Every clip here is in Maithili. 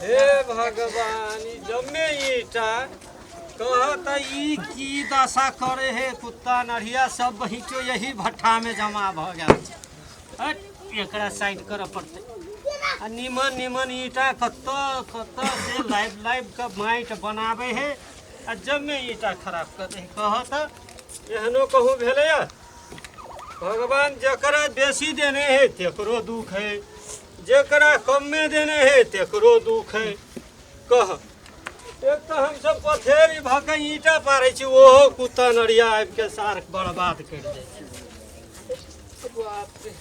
हे भगवान ई जम्मे ईटा कह त ई की दशा करे हे कुत्ता नढ़िया सब बहिचो यही भट्ठा में जमा भ गेल छै हट, एकरा साइड करऽ पड़तै आ निमन निमन ईटा कतऽ कतऽ से लाइब लाइब के माइट बनाबै हे आ जम्मे ईटा खराब कर दे कह त एहनो कहूँ भेलैया भगवान जकरा बेसी देने हे तेकरो दुख हे जेकरा कमे देने है तेकरो दुख है कह एक तो हम सब पथेरी भके ईटा पारे छी ओहो कुत्ता नरिया आबि के सार बर्बाद कर जाय छै बाप रे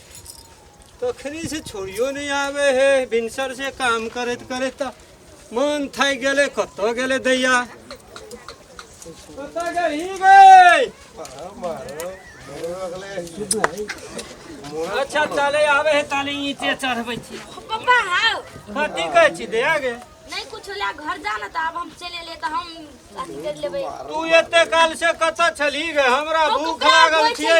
तखनी से छोड़ियो नहीं आवे है भिनसर से काम करत करत मन थाकि गेलै कतऽ गेलै दैया कतऽ गेलही गै अच्छा चले आबे है ताले ईंटे चढ़बै छी पप्पा हाउ कथी कहै छी दैया गे नहीं कुछ ला घर जाना था अब हम चले ले तो हम अथी कर लेबे तू एते काल से कतऽ छलही गे हमरा भूख लागल छियै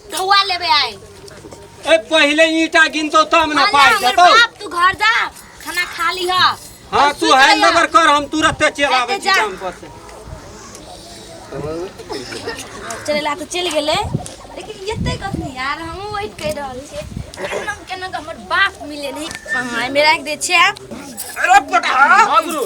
धुआ लेबे आए ए पहिले ईटा गिनतो तब ना अरे पाई हमर देतो बाप तू घर जा खाना खा ली हा हां तू हैंड ओवर कर हम तुरंत चल आवे एते जा। काम पर से चलेला तो चल गेले लेकिन एते कस नहीं यार हम वेट कर रहल छे केना केना हमर बाप मिले नहीं हाँ, मेरा एक दे छे अरे पटा हां गुरु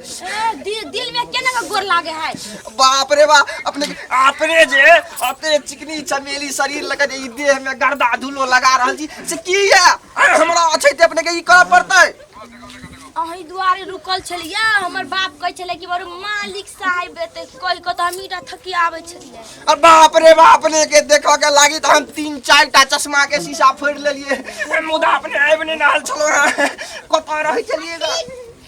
ए, दिल दिल में केना के गोर लागे है बाप रे बाप अपने अपने जे अपने चिकनी चमेली शरीर लगा जे ई देह में गर्दा धूलो लगा रहल छी से की है अरे हमरा अच्छे ते अपने के ई करऽ पड़तै अही दुआरे रुकल छलियै हमर बाप कहै छलै कि बरू मालिक साहेब एतै कहि कऽ तऽ हम ईटा थकी आबै छलियै अरे बाप रे बाप अपने के देखऽ के लागी तऽ हम तीन चार टा चश्मा के शीशा फोड़ लेलिए मुदा अपने आबि नहि रहल छलहुँ हैं। कतऽ रहै छलिए गे?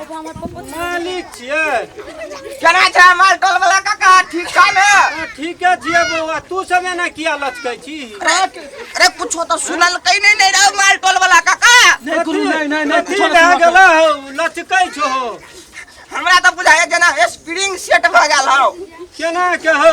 एगो हमर पप्पो छै। मालिक छियै केना छै हमार कल वाला काका ठीक छै ने हाँ, ठीके छियै बौआ तू सब एना किया लचकै छी अरे कुछो तो सुनल कहीं नहीं नहीं रहो मार टोल वाला काका नहीं गुरु नहीं नहीं नहीं कथी भए गेला हौ लचकै छो हमरा तो बुझाए जना स्प्रिंग सेट भ गेल हौ केना के हौ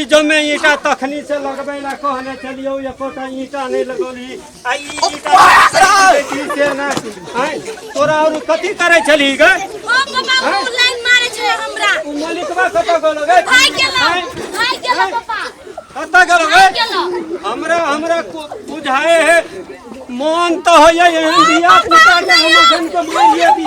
ई जमे ईटा तखनी से लगबे ला कहने चलियो एकोटा ईटा नहीं लगौली आ ई ईटा देखी से ना हैं तोरा और कथी करे चली गे ओ पापा उ लाइन मारे छै हमरा उ मलिकवा कत गेलो गे भाग गेलो हैं? भाग गेलो पापा कत गेलो भाग गे गेलो हमरा हमरा को- बुझाए है मन तो होइए एहन बियाह निकाल हम जन के मारिए भी